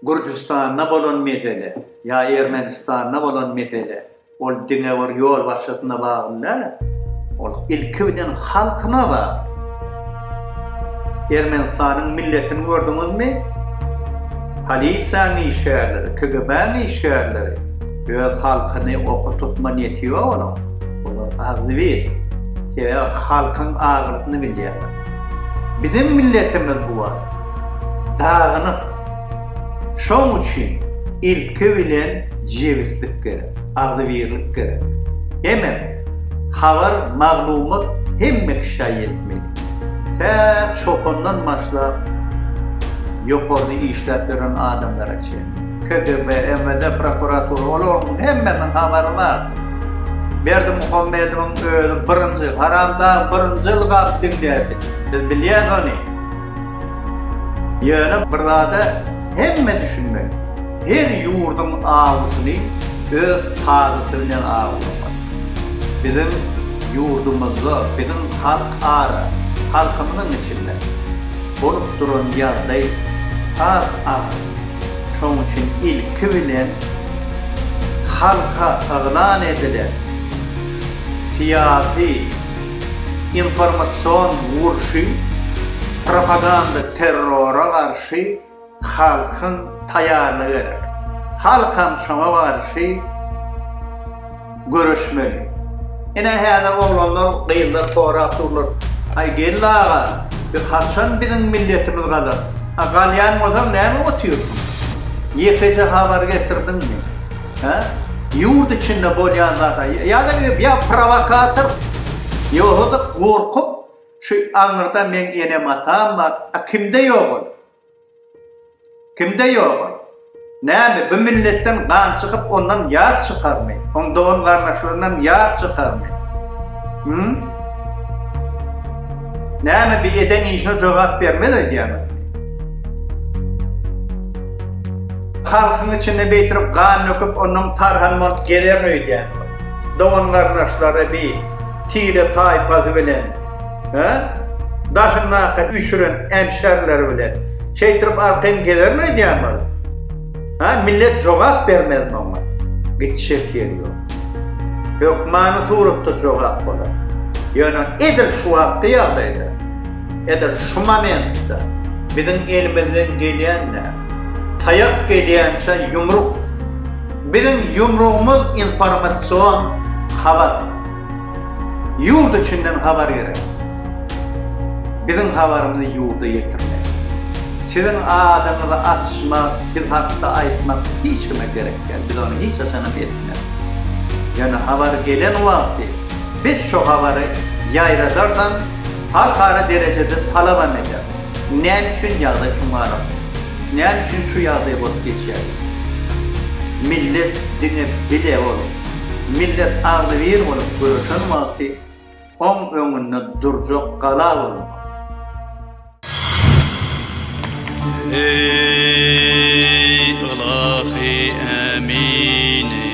Gürjüstanda bolan mesele ýa Ermenistanda bolan mesele ol diňe bir ýolbaşçysyna bagly däl, ol ilki bilen halkyna bagly. Ermenistanyň milletini gördüňizmi? Polisiýanyň işgärleri, KGB-niň işgärleri öz halkyny okutyp ma neti ýok olaň. Olar agzybir. Sebäbi halkyň agyrysyny bilýärler. Biziň milletimiz bu wagt dagynyk. Şoň üçin ilki bilen jebislik gerek, agzybirlik gerek. Hemem habar, maglumat hemme kişä ýetmeli. Tä çopandan başlap ýokarda işläp ýören adamlara çenli. KGB, MWD, prokuratura, olaryň hemmesiniň habary bar. Berdimuhamedowyň özi birinji, haramdag birinji ylgap diňlärdi. Biz bilýäs ony. Ýöne bir zada hemme düşünmeli. Her ýurduň awysyny öz tazysy bilen awlamaly. Biziň ýurdumyzda, biziň halk ara, halkymyzyň içinde bolup duran ýagdaý has agyr. Şonuň üçin ilki bilen halka yglan edilen syýasy informasion urşy propaganda terrora garşy halkyň taýarlygy gerek. Halkam şoňa garşy. Görüşmeli. Ine häzir oglanlar gyzlar sorap durlar, Aý geldi aga, biz haçan biziň milletimiz galar? A galýan bolsaň näme otyrsyň? Ýekeje habar getirdiňmi? Hä? Ýurt içinde bolýan zata ýa-da ýa prowokator, ýogsada gorkup şu aňyrda meň enem-atam bar, a kimde ýok ol? Kimde ýoga? Näme, bu milletden gan çykyp, ondan ýar çykarmy? Oň dogan-garyndaşlaryndan ýar çykarmy? Hümm? Näme, bi eden işine jogap bermez öýdýäňizmi? Halkyň içinde beýtirip gan döküp, ondan tarhan bolup gezerin öýdýäňizmi? Dogan-garyndaşlary bi tire-taýpasy bilen. Daşyndaky üýşüren ämşärleri bilen şeýtirip arkaýyn gezermi öýdýäňmi ol? Millet jogap bermezmi oňa? Gitjek ýeri ýok. Hökmany suratda jogap bolar. Ýöne edil şu wagtky ýagdaýda, edil şu momentde biziň elimizden gelýän näme? Taýak gelýänçä ýumruk. Biziň ýumrugymyz informasion habar. Ýurt içinden habar gerek. Biziň habarymyzy ýurda ýetirmek. Siziň adyňyzy açmak, siz hakda aýtmak hiç kime gerek däl. Biz ony hiç haçanam etmeris. Ýöne habar gelen wagty biz şo habary ýaýradardan halkara derejede talabam ederis. Näme üçin ýagdaý şu mahalat? Näme üçin şu ýagdaý bolup geçýär? Millet diňe bile ol. Millet agzybir bolup göreşen wagty oň öňünde durjak gala bolmak. Eý, ylahy Ämini!